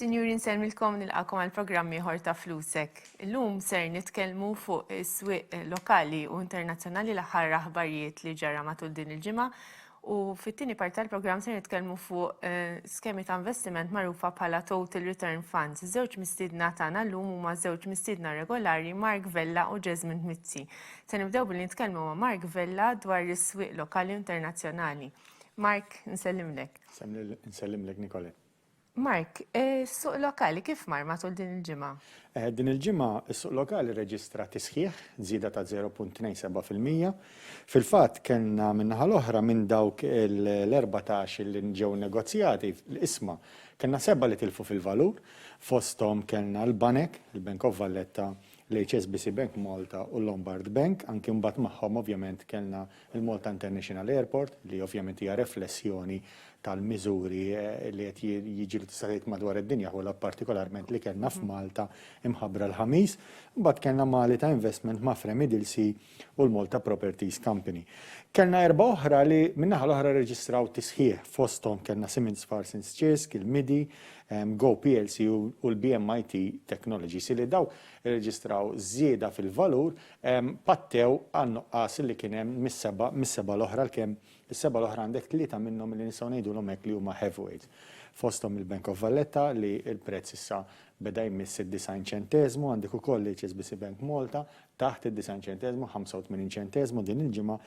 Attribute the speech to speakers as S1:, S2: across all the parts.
S1: Sinjuri nsellmilkom nilqakom għal programm ieħor ta' Flusek. Illum ser nitkellmu fuq is-swieq lokali u internazzjonali l-aħħar aħbarijiet li ġara matul din il-ġimgħa U fit-tieni parti tal-programm se nitkellmu fuq skemi ta' investiment magħrufa bħala Total Return Funds. Żewġ mistiedna tagħna llum huma żewġ mistiedna regolari Mark Vella u Jesmond Mizzi. Se nibdew billi nitkellmu ma' Mark Vella dwar is-swieq lokali u internazzjonali. Mark, nsellimlek. Nsellimlek,
S2: Nicole. Mark,
S1: is-suq lokali kif mar matul din il-ġimgħa? Din il-ġimgħa
S2: s-suq lokali rreġistra tisħiħ, żieda ta' 0.27 fil-mija. Fil-fatt kellna min-naħa l-oħra minn dawk l-erbatax li ġew negozjati, l-qisma, kellna sebgħa li tilfu fil-valur, fosthom kellna l-banek, il-Bank of Valletta, l-HSBC Bank Malta u l-Lombard Bank, anki mbagħad magħhom ovvjament kellna l-Malta International Airport li ovvjament hija reflessjoni tal-miżuri li qed jiġru tista' tgħid madwar id-dinja ħu lgħob partikolarment li kellna f'Malta mħabbra l-Ħamis. Mbagħad kellna Malita Investment ma' Fremi Dilsey u l-Malta Properties Company. Kellna erbgħa oħra li min-naħa l-oħra rreġistraw tisħiħ, fosthom kellna Siemens Parsons Ċirsk, il-MIDI, Go plc u l-BMIT Technologies, illi dawk irreġistraw żieda fil-valur, pattew għan-nuqqas li kien hemm mis-seba' mis-seba' l-oħra għalkemm is-seba' l-oħra għandek tlieta minnhom li nistgħu ngħidulhom hekk li huma heavyweights. Fosthom il-Bank of Valletta li l-prezz issa beda jmiss id-90 ċenteżmu, għandek ukoll l-HSBC Bank Malta taħt id-90 ċenteżmu, 85 ċenteżmu din il-ġimgħa,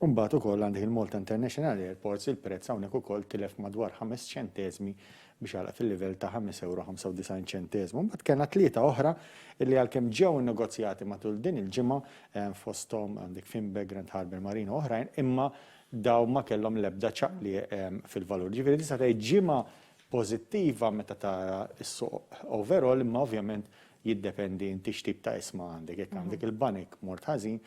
S2: u mbagħad ukoll għandek il-Malta International Airports, il-prezz hawnhekk ukoll tilef madwar ħames ċenteżmi biex għalaq fil-livell ta' 5.95 ċenteżmu. Mbagħad kellna tlieta oħra illi għalkemm ġew innegozjati matul din il-ġimgħa eh, fosthom għandek Finbe, Grand Harbour Marine u oħrajn, imma daw ma kellhom l-ebda ċaqli eh, fil-valur. Ġifieri tista' tgħid ġimgħa pożittiva meta tara s-suq overall, imma ovvjament Jiddependi inti x'tip ta' isma għandek. Jekk għandek il-banek mort ħażin,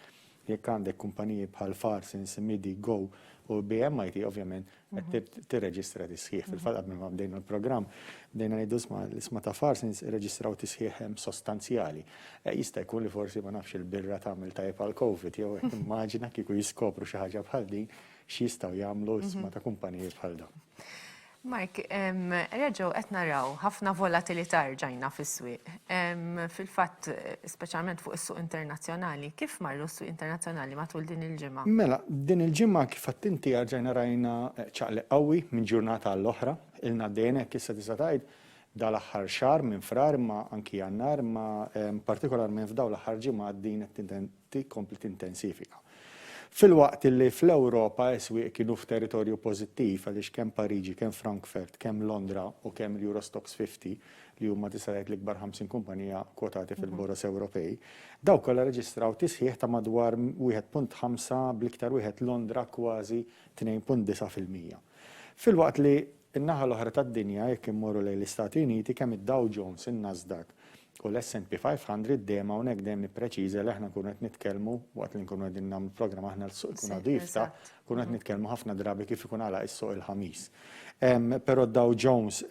S2: jekk għandek kumpaniji bħal Farsins, Midi, Go u BMIT ovvjament qed tirreġistra tisħiħ. Fil-fatt qabel ma bdejna l-programm bdejna ngħidu isma' l-isma ta' Farsins irreġistraw tisħiħ sostanzjali. Jista' jkun li forsi ma nafx il-birra tagħmel tajjeb għall-Covid jew hekk immaġina kieku jiskopru xi ħaġa bħal din x'jistgħu jagħmlu isma ta' kumpaniji bħal dawn. Mark,
S1: reġgħu qed naraw ħafna volatilità rġajna fis-swieq. Fil-fatt, speċjalment fuq is-suq internazzjonali, kif marru s-swieq internazzjonali matul din il-ġimgħa? Mela, din il-ġimgħa
S2: kif għedt inti rġajna rajna ċaqliq qawwi minn ġurnata għall-oħra. Ilna għaddejjin hekk issa tista' tgħid dal-aħħar xahar minn Frar imma anki Jannar imma partikolarment f'dawn l-aħħar ġimgħat din qed tkompli tintensifika. Filwaqt li fl-Ewropa s-swieq kienu f'territorju pożittiv għaliex kemm Pariġi, kemm Frankfurt, kemm Londra u kemm l-Euro Stoxx 50, li huma tista' tgħid l-ikbar 50 kumpanija kwotati fil-boroż Ewropej, dawn kollha rreġistraw tisħiħ ta' madwar 1.5 bl-iktar wieħed Londra kważi 2.9 fil-mija. Filwaqt li n-naħa l-oħra tad-dinja, jekk immorru lejn l-Istati Uniti, kemm id-Dow Jones, in-Nasdaq u l-SNP 500 dejjem hawnhekk dejjem nippreċiża li aħna nkunu qed nitkellmu waqt li nkunu qegħdin nagħmlu programm aħna l-suq ikun għadu jiftaħ, nkunu qed nitkellmu ħafna drabi kif ikun għalaq is-suq il-Ħamis. Però d-Dow Jones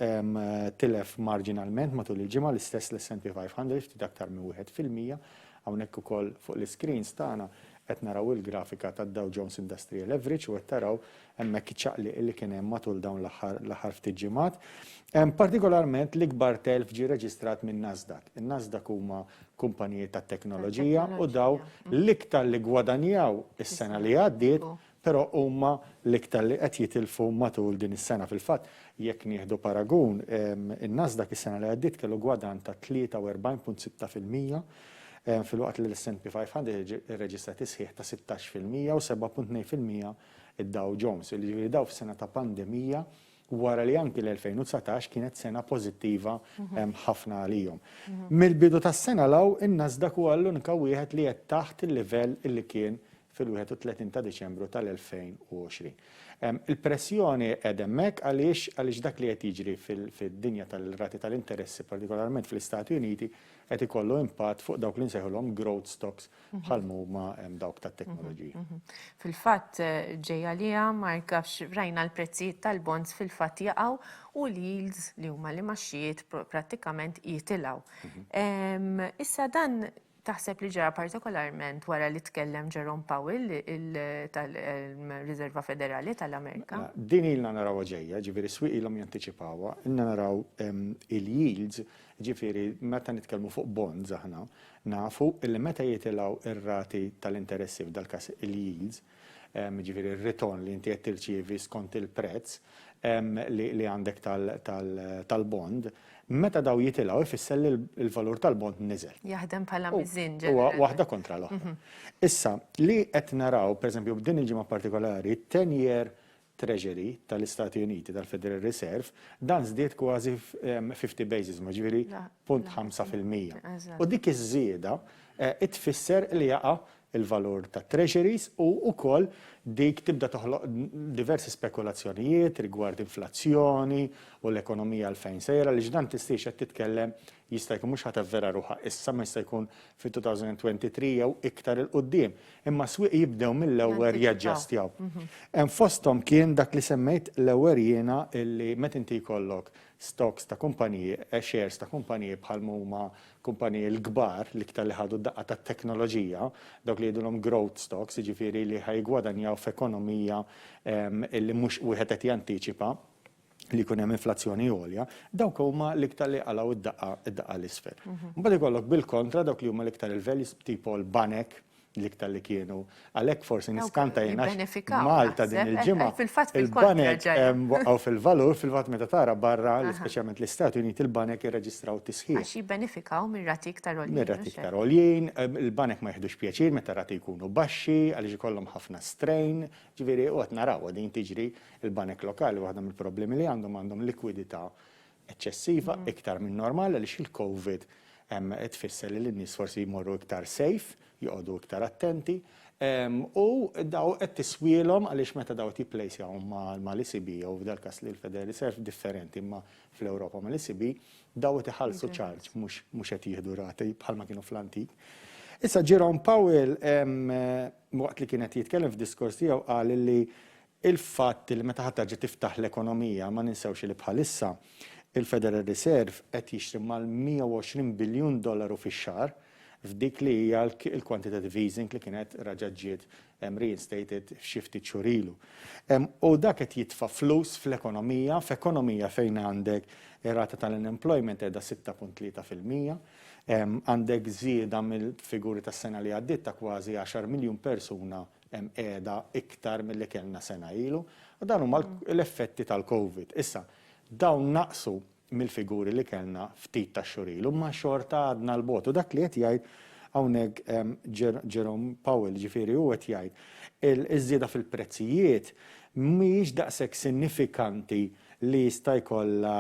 S2: tilef marġinalment matul il-ġimgħa l-istess l-SNP 500 ftit aktar minn wieħed fil-mija. Hawnhekk ukoll fuq l-iscreens tagħna qed naraw il-grafika tad-Dow Jones Industrial Average u qed taraw hemmhekk iċ-ċaqliq li kien hemm matul dawn l-aħħar l-aħħar ftit ġimgħat. Partikolarment l-ikbar telf ġie reġistrat minn Nasdaq. In-Nasdaq huma kumpaniji tat-teknoloġija u dawn l-iktar li ggwadanjaw is-sena li għaddiet, però huma l-iktar li qed jitilfu matul din is-sena. Fil-fatt, jekk nieħdu paragun, in-Nasdaq is-sena li għaddiet kellu gwadann ta' 43.6 fil-mija, filwaqt li l-S&P 500 irreġistra tisħiħ ta' sittax fil-mija u 7.2 fil-mija id-Dow Jones, jiġifieri dawn f'sena ta' pandemija wara li anki l-2019 kienet sena pożittiva ħafna għalihom. Mill-bidu tas-sena 'l hawn in-Nasdaq huwa l-unika wieħed li qed taħt il-livell li kien fil-31 ta' Diċembru tal-2020. Il-pressjoni qiegħda hemmhekk għaliex għaliex dak li qed jiġri fid-dinja tal-rati tal-interessi, partikolarment fl-Istati Uniti, qed ikollu impatt fuq dawk li nsejħulhom growth stocks bħal huma hemm dawk tat-teknoloġija. Mhm, mhm. Fil-fatt
S1: ġej għaliha Mark għax rajna l-prezzijiet tal-bonds fil-fatt jaqgħu u l-yields li huma li maxxijiet prattikament jitilgħu. Mhm. Issa dan taħseb li ġara partikolarment wara li tkellem Jerome Powell tal-Riserva Federali tal-Amerika? Mela, din ilna naraw
S2: ġejja, ġifiri s-swiq ilhom janticipawa, ilna naraw il-yields, ġifiri meta nitkellmu fuq bonds aħna, Nafu li meta jitilgħu r-rati tal-interessi, f'dal-każ il-yields, jiġifieri r-ritorn li inti qed tirċievi skont il-prezz li għandek tal-bond, meta dawn jitilgħu jfisser li l-valur tal-bond niżel. Jaħdem bħala miżien
S1: ġenerali. Huwa waħda kontra
S2: l-oħra. Issa, li qed naraw, pereżempju, f'din il-ġimgħa partikolari, t-ten year Treasury tal-Istati Uniti tal-Federal Reserve, dan żdied kważi 50 basis ma' ġifieri punt ħamsa fil-mija. U dik iż-żieda tfisser li jaqa' l-valur tat-Treasuries u wkoll dik tibda toħloq diversi spekulazzjonijiet rigward inflazzjoni u l-ekonomija għal fejn sejra għaliex dan tistgħix qed titkellem Jista' jkun mhux ħa tavvera ruħha issa, ma jista' jkun fit-2023 jew iktar 'il quddiem, imma s-swieq jibdew mill-ewwer jaġġastjaw. Hemm fosthom kien dak li semmejt l-ewwer jiena illi meta inti jkollok stocks ta' kumpaniji, shares ta' kumpaniji bħal m'huma kumpaniji l-kbar, l-iktar li ħadu d-daqqa tat-teknoloġija, dawk li jgħidulhom growth stocks, jiġifieri li ħa jiggwadanjaw f'ekonomija illi mhux wieħed qed jantiċipa, li jkun hemm inflazzjoni għolja, dawk huma l-iktar li jqalgħu d-daqqa 'l isfel. Imbagħad ikollok bil-kontra dawk li huma l-iktar il-values tipo l-banek l-iktar li kienu. Għalhekk forsi niskanta jien għax Malta din il-ġimgħa il-banek waqgħu fil-valur fil-fatt meta tara barra, speċjalment l-Istati Uniti, il-banek irreġistraw tisħiħ. Għax jibbenefikaw minn
S1: rati iktar għoljin. Minn rati iktar għoljin,
S2: il-banek ma jiħdux pjaċir meta rati jkunu baxxi għaliex ikollhom ħafna strain, ġifieri u qed narawha din tiġri Il-banek lokali waħda mill-problemi li għandhom għandhom likwidità eċċessiva iktar min-normal għaliex il-Covid tfisser li n-nies forsi jmorru iktar safe, joqogħdu iktar attenti u daw qed tiswielhom għaliex meta daw qed jipplejsjawhom mal-ECB jew f'dal-każ li l-Federal Reserve differenti imma fl-Ewropa mal-ECB daw qed iħallsu charge mhux qed jieħdu rati bħalma kienu fl-antik. Issa Jerome Powell waqt li kien qed jitkellem f'diskors tiegħu qal li il-fatt li meta ħa terġa' tiftaħ l-ekonomija ma ninsewx li bħalissa il-Federal Reserve qed jixtri mal-120 biljun dollaru fix-xahar f'dik li hija l-quantitative easing li kienet raġgħet ġiet reinstated xi ftit xhur ilu. U dak qed jitfa' flus fl-ekonomija, f'ekonomija fejn għandek ir-rata tal-unemployment qiegħda 6.3 fil-mija, għandek żieda mill-figuri tas-sena li għaddiet ta' kważi għaxar miljun persuna hemm qiegħda iktar milli kellna sena ilu. Dan huma l-effetti tal-Covid. Issa, dawn naqsu mill-figuri li kellna ftit tax-xhur ilu, imma xorta għadna 'l bogħod. U dak li qed jgħid hawnhekk Jerome Powell, jiġifieri hu qed jgħid, iż-żieda fil-prezzijiet mhijiex daqshekk sinifikanti li jista' jkollha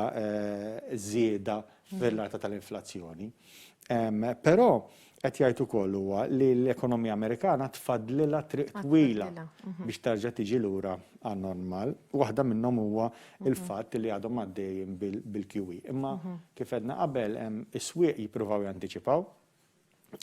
S2: żieda fir-rata tal-inflazzjoni. Però qed jgħid ukoll huwa li l-ekonomija Amerikana tfaddlilha triq twila biex terġa' tiġi lura għan-normal. Waħda minnhom huwa l-fatt li għadhom għaddejjin bil-QE. Imma kif għedna qabel, is-swieq jippruvaw jantiċipaw.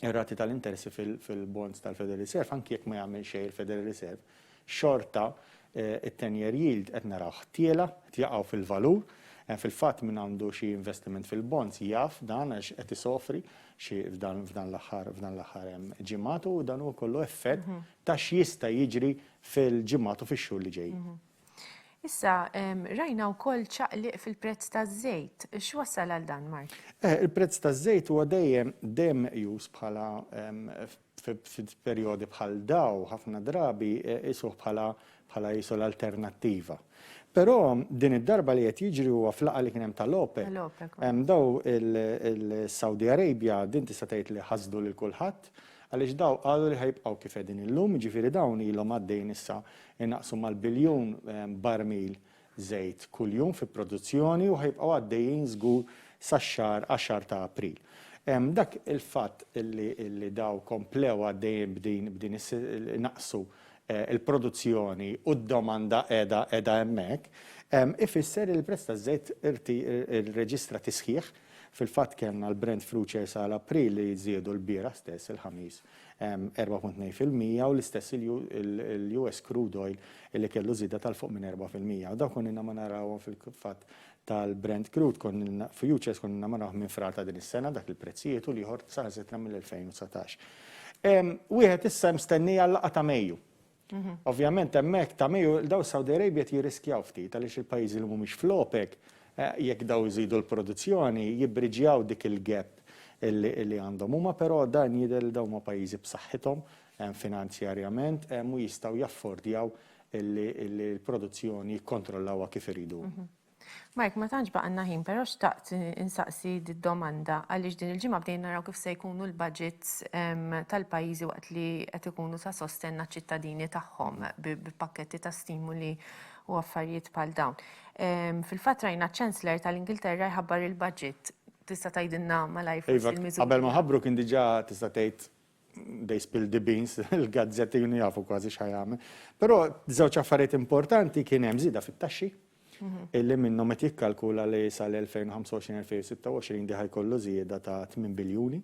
S2: ir-rati tal-interessi fil-bonds tal-Federal Reserve, anki jekk ma jagħmel xejn il-Federal Reserve, xorta t-ten-year yield qed narawh tiela', qed jaqgħu fil-valur. Fil-fatt min għandu xi investiment fil-bonds jaf dan għax qed isofri xi f'dan f'dan l-aħħar f'dan l-aħħar ġimgħat u dan huwa kollu effett ta' x'jista' jiġri fil-ġimgħat u fix-xhur li ġejjin. Issa,
S1: rajna wkoll ċaqliq fil-prezz taż-żejt. X'wassal għal dan, Mark? Eh, il-prezz taż-żejt
S2: huwa dejjem dejjem meqjus bħala f'perjodi bħal daw ħafna drabi eh, isuh bħala bħala jisu l-alternattiva. Però din id-darba li qed jiġri huwa flaqa li kien hemm tal-OPEC. Hemm daw il-Saudi Arabia din tista' tgħid li ħasdu lil kulħadd għaliex daw qalu li ħajbqgħu kif qegħdin illum, ġifieri dawn ilhom għaddejn issa Inaqsu mal-biljun barmil żejt kuljum fi produzzjoni u ħa jibqgħu għaddejjin żgur sax-xahar għaxar ta' April. Dak il-fatt li daw komplew għaddejjin b'din is inaqsu l-produzzjoni u d-domanda qiegħda hemmhekk, ifisser li l-prezz taż-żejt irreġistra tisħiħ. Fil-fatt kellna l-Brent Futures għal April li żiedu l-bieraħ stess, il-Ħamis, 4.2 fil-mija u l-istess il-US crude oil illi kellu żieda tal-fuq minn 4 fil-mija. U dawn konninna ma narawhom fil-fatt tal-Brent crude konninna futures konninna ma narawh minn frar ta' din is-sena dak il-prezzijiet u l-ieħor saħansitra mill-2019. Wieħed issa mstennija l-laqgħa ta' Mejju. Ovvjament hemmhekk ta' Mejju daw Saudi Arabia qed jirriskjaw ftit għaliex il-pajjiżi li mhumiex fl-OPEC jekk daw iżidu l-produzzjoni jibbriġjaw dik il-gap li għandhom huma però dan jidher li dawn huma pajjiżi b'saħħithom finanzjarjament u jistgħu jaffordjaw li l-produzzjoni jikkontrollawha kif iridu huma. Mike, ma
S1: tantx baqanna ħin, però xtaqt insaqsi d-domanda għaliex din il-ġimgħa bdejn naraw kif se jkunu l-budgets ehm, tal-pajjiżi waqt li qed ikunu ta' sostenna ċittadini tagħhom bi pakketti ta' stimuli u affarijiet bħal dawn. Ehm, fil-fatt rajna ċ-Chancellor tal-Ingilterra jħabbar il-budget tista' tgħidilna malajr forsi iva, l-miżuri. Qabel ma ħabbru kien diġà
S2: tista' tgħid they spill the beans, il-gazzetti junu jafu kważi xħajame. Pero żewġ affarijiet importanti kien hemm żida fit-taxxi, mhm. illi minnhom qed jikkalkula li sal-2025-2026 diħaj kollu żieda ta' 8 biljuni.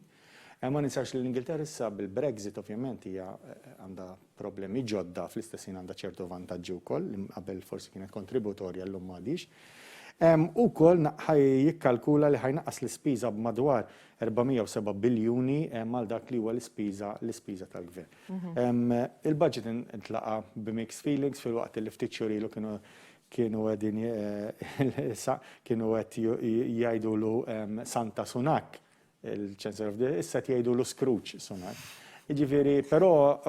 S2: Eh, ma ninsax li l-Ingilterra issa bil-Brexit ovvjament hija eh, għandha problemi ġodda, fl-istess ħin għandha ċertu vantaġġi wkoll li qabel forsi kienet kontributorja llum m'għadhiex. U wkoll ħaj jikkalkula li ħaj jnaqqas l-ispiża b'madwar 407 biljuni għal dak li huwa l-ispiża l-ispiża tal-gvern. Il-budget intlaqa' bi mixed feelings filwaqt li ftit xhur ilu kienu kienu qegħdin kienu qed jgħidulu Santa Sunak il-Chancellor of the issa tgħidu l Scrooge Sunak. Ġifieri, però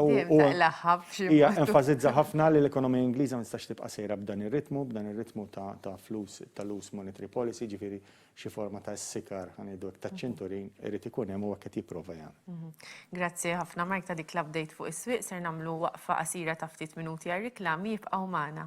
S2: hija enfasizza ħafna li l-ekonomija Ingliża ma tistax tibqa' sejra b'dan ir-ritmu, b'dan ir-ritmu ta' flus ta' loose monetary policy, ġifieri xi forma ta' sikar ħanejdu ta' ċinturin irid ikun hemm u hekk qed jipprova jagħmel. Mhm. Grazzi ħafna
S1: Mark ta' dik l-update fuq is-swieq ser nagħmlu waqfa qasira ta' ftit minuti għar-riklami jibqgħu magħna.